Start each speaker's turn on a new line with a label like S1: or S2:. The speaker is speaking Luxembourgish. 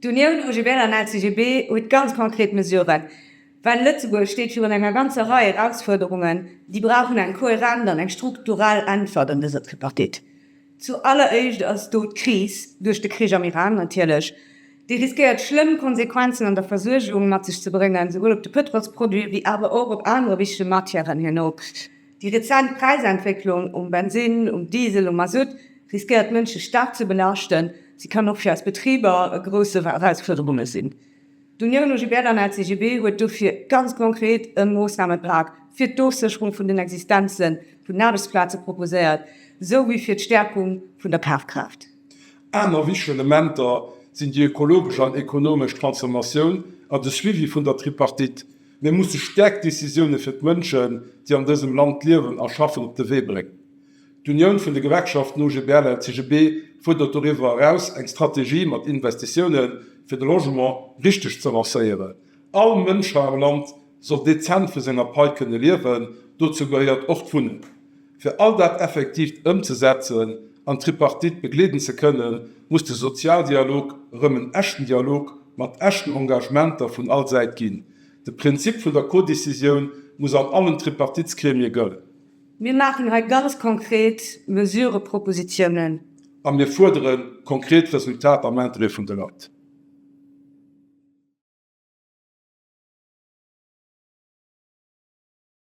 S1: D'Unioun OGBL an LCGB huet ganz konkret Mesuren, well Lëtzebuerg steet virun enger ganzer Rei Erausfuerderungen, déi brauchen eng kohärent an eng strukturell Äntwert an dëser Tripartite. Zu alleréischt ass do d'Kris duerch de Krich am Iran natierlech, déi riskéiert schlëmm Konsequenzen an der Versuergung mat sech ze bréngen, souwuel op de Pëtrolsproduit wéi awer och op anere wichtege Matièren herno. Déi rezent Präisentwécklung um Bensinn, um Diesel, um Masutt riskéiert d'Mënsche staark ze belaaschten. Si kann och fir eis Betriber e grousse Erausfuerderunge sinn. D'Union OGB an LCGB huet dofir ganz konkret e Moossnamepak fir d'Ofsécherung vun den Existenze vun den Aarbechtsplaze proposéiert, esou wéi fir d'Stäerkung vun der Kafkraaft. Aner wichteg Elementer sinn déi ökologesch an ekonomesch Transformatioun an de Suivi vun der Tripartite. Mir musse staark Décisioune fir d'Mënschen, déi an dësem Land liewen a schaffen, op de Wee bréngen. D'Unioun vun de Gewerkschaften OGBL-LCGB fuerdert doriwwer eraus eng Strategie mat Investitioune fir de Logement richteg ze lancéieren. All Mënsch hei am Land soll dezent vu senger Pai kënne liewen. Dozou gehéiert och d'Wunnen. Fir all dat effektivt ëmzesetzen an d'Tripartite begleeden ze kënnen, muss de Sozialdialog erëm en echten Dialog mat echten Engagementer vun all Säit ginn. De Prinzip vun der Codécisioun muss an allen Tripartitsgremie gëllen. Mir maachen hei ganz konkret Mesurepropositionen. A mir fuerdere konkret Resultater am Interêt vun de Leit.